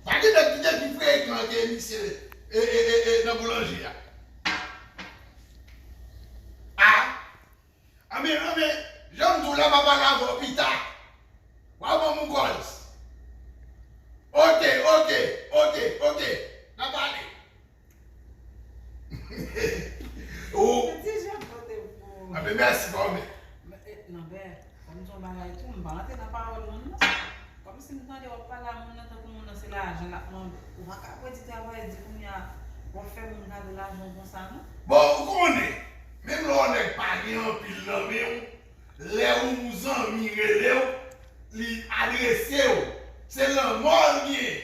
Pa gen nèg ki te pi frekan ke misye nan boulanje a. A, anben, anben, jan m di w la, m a pale avè w pita. Wa ban m yon kòls. Oke, oke, oke, oke, n a pale. Ou. Mwen di jèm pote pou ou. Anben mèsi pa oubyen. Non bè, kòm son bagay tou m pa rantre nan pawòl moun non. Kòm si m tande wap pale a moun nan tankou moun nan se lajan lap mande. Ou pa ka ap di travay di kounye a wap fè moun gade lajan w konsa non. Bon ou konnen, menm lè yon nèg pa gen anpil nan men w, lè yon zanmi rele w, li adrese w, se lanmò l genyen.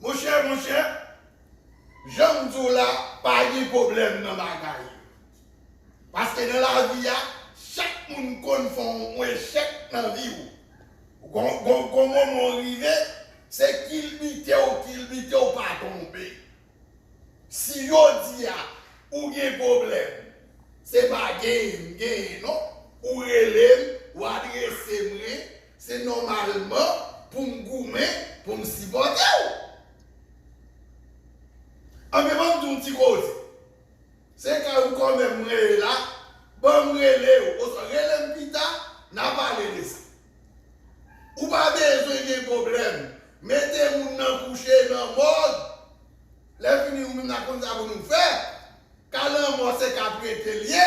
Monchè monchè janm di w la pa gen pwoblèm nan bagay yo paske nan lavi a chak moun konn fè yon echèk nan vi w gon moman w rive se kilbite w kilbite w pa tonbe si jodi a ou gen pwoblèm se pa genyen m genyen non ou rele m ou adrese mwen Se nòmalman pou m goumen pou m sipòte w. Anben ban m di w yon ti koze. Se kay ou kòmè m rele la, ban m rele w oswa rele m pita n a pale de sa. Ou pa bezwen gen pwoblèm mete moun nan kouche nan mòg. Lèfini ou menm n a konn sa pou nou fè. Ka lanmò se ka prete l ye.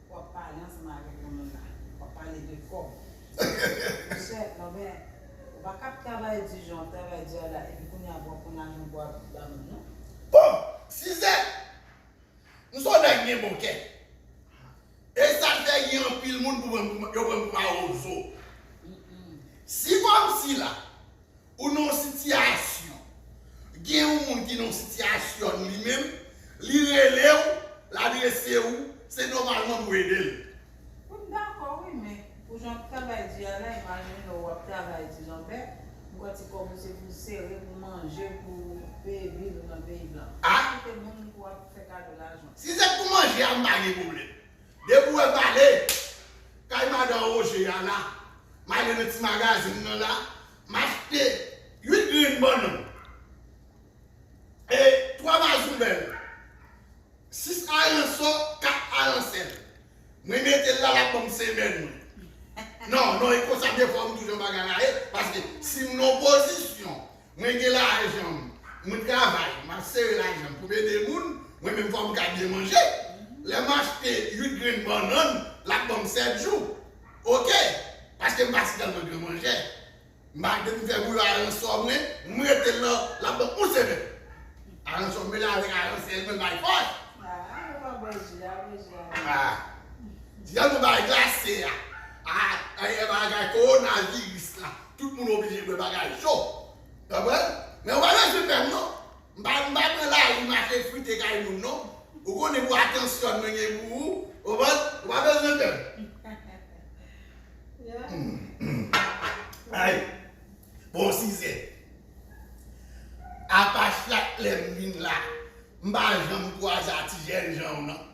Wap pale ansanm avek yon moun la. Wap pale de kob. Monchè non men ou pa kap travay di jan wap travay di a la epi kounye a pou wap pran lajan pou wap ba moun non. Bon Suzette! M son nèg gen bon kè. E sal fè gen anpil moun pou pranm pou yo pranm pou mawozo. Si fanm sila Ou nan yon sitiyasyon, gen yon moun ki nan yon sitiyasyonn li menm, li rele w, l adrese ou, se nòmalman pou w ede l. Wi m dakò wi men pou jan w travay di a la imajine w wap travay ti lanbè m pran ti kòb ou se pou sere pou manje pou peye bil ou nan peyi blan ou kite moun pou wap fè kado lajan. Si se t pou manje a m pa gen pwoblèm depi w wè m ale kay madan Roger a la m ale nan ti magazin nan la M achte 8 grenn bannann e 3 mazoubèl, 6 aransò, 4 aransèl. Mwen mete l la, l ap ban m semèn. Non, non, e konsa defwa m toujou anba garaye, paske si m nan pozisyon, mwen gen lajan m, mwen travay, m ap sere lajan m pou m ede moun, mwen menm fò m ka byen manje. Lè m achte 8 grenn bannann, l ap ban m 7 jou. ok paske m pa si tèlman gran manjè m pa depi m fè bouyon aransò mwen m rete lan la pran yon semèn aransò m mele avèk aransè l mwen bay fòs aa jan nou bay glase a aa bagay kowona viris la tout moun oblije bwè bagay cho konprann men ou pa bezwen pè m non. M pa m pa pran lari mache frite kay moun non Ou konnen pou atansyon mwen gen pou ou Konprann Ou pa bezwen pè Ayy Bon size Apa chak lè m vin la M pa janm kwaze a ti jènjan w nan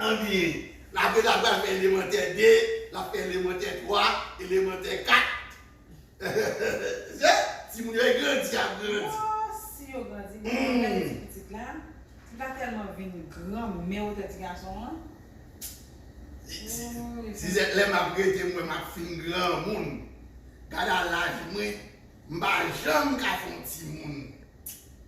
Anbyen, lage la pral fè elemantè 2, lap fè elemantè 3, elemantè 4. Hehehehe Timoun yo e grandi yap grandi. Ohh si yo grandi men lèw gade ti pitit la li pa tèlman vin gran men wotè ti gason an ooh li fè Suzette lè map rete m wè map fin granmoun gada laj mwen m pa janm ka fon timoun.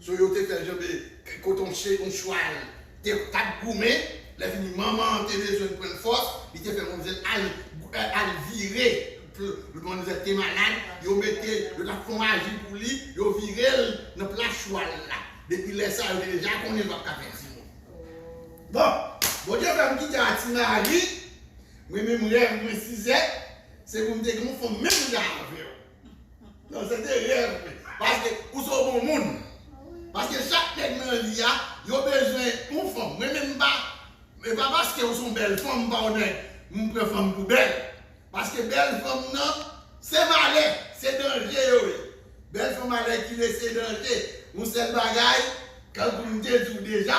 So yo te fèl janbe kot on chen on chwal te pat goumen lè fini manman an te bezwenn prann fòs li te fè manmzèl al al vire pou manmzèl te malad yo mete yo tap fon aji pou li yo virel nan plas chwal la depi lè sa yo te deja konnen l pap ka fè timoun bon Bondye fèm kite a ti mari mwen menm rèv mwen sizèt se pou m te gen on fanm menm jan avèw. Non se te rèv mwen. Paske ou se yon bon moun. Paske chak nèg nan li a, yo bezwen yon fanm. Mwen menm m pa, e pa paske ou se yon bèl fanm, m pa yon nèg, m pran fanm pou bèl. Paske bèl fanm nan, se malè, se danje yo ye. Bèl fanm alèkile se danje. Yon sèl bagay, tankou m te di w deja.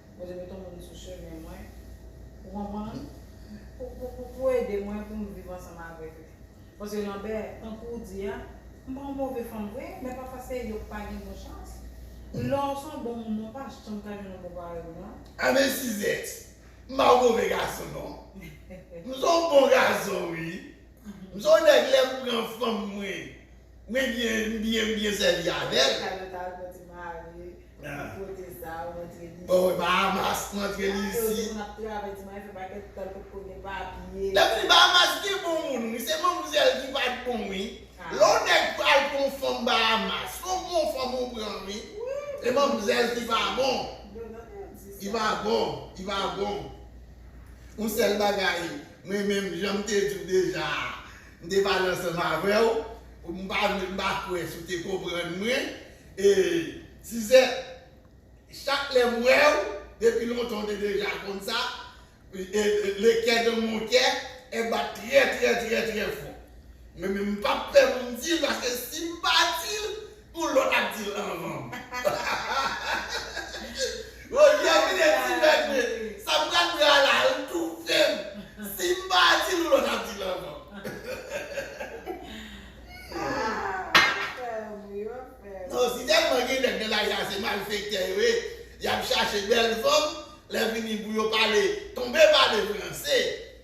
Bondye met yon moun sou chemen mwen pou konprann, pou ede mwen pou m viv ansanm avèk li. Paske Lanbè, tankou ou di a, m pa yon move fanm vre, men pafwa se yo k pa gen bon chans. Lè w se yon bon moun, ou pa janm ka jwenn yon bon parèy ou non. Amèn Suzette! M pa yon move gason non. M se yon bon gason wi. M se yon nèg lè m pran fanm mwen, Mwen byen m byen m byen sèvi avèl. Canada ou mwen te mare nan kote sa ou antre li isit. Bahamas ou antre li isit. Kote moun ap travay di mwen fè pakèt tan kote ko gen papye. Lèm vini Bahamas gen bon moun wi se manmzèl ki pat bon wi lè yon nèg pral pran yon fanm Bahamas son bon fanm ou pran wi se manmzèl ki pa bon li pa bon li pa bon yon sèl bagay mwen menm janm te diw deja a M te pale ansanm avè w, ou m pa vle m pa kwè si w te konprann mwen. E Suzette, chak lè m wè w, depi lontan w te deja konn sa, le kè dan mon kè, è bat trè trè trè trè fò. Mwen menm m pap pè pou m di l paske si m pa di l, Yon lòt ap dil anvan m. Roger vine ti nèg vre sa m pral pran la l toufe m si m pa dil yon lòt ap dil anvan m. Non si tèlman gen nèg nan lari a se malfektè yo ye yap chache bèl fanm lè fini pou yo pale tonbe pale franse.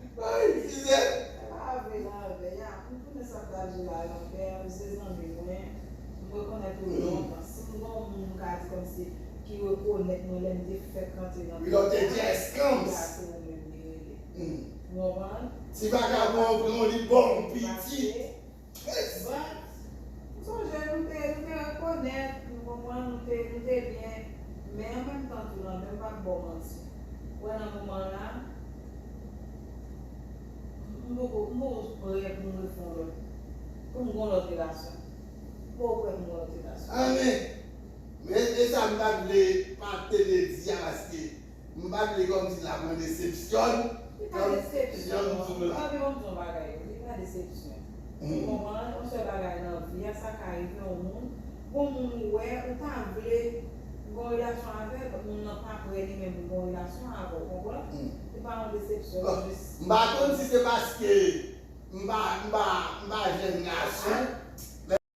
Li pa itilize. Mwen pa avwe lanvè ya poum tounen sa mtap di la lanvè ya misye zanmi mwen m rekonèt ou lontan sim gon moun m ka di kòmsi ki rekonèt mwen lèm te fèk rantre nan peyi ya se ou ya se ou menm li rele ou konprann si vagabon an pran w li baw pitit. Yes! But, m sonje nou te, nou te rekonèt, nou konprann, nou te, nou te byen, men an menm tan tou nan men, m pap baw manti, ou wè nan moman la, m poko, m poko prè pou m refè yon lòt, pou m gen yon lòt relasyon. M poko prè pou m gen yon lòt relasyon. Amen! Men, e sa m ta vle, m pa tnde di a paske M pa vle kòmsi sa pran desepsyon nan jan m di w la. Mwen pa vle kòmsi sa pran desepsyon. Ou konprann, yon sèl bagay nan vi a, sa ka rive yon moun, gon moun ou wè, ou ta vle gon relasyon avè l, moun nan pa prè li menm pou gon relasyon avè w, konprann? Se pa yon desepsyon, se jis. M pa konn si se paske m pa jèn gason.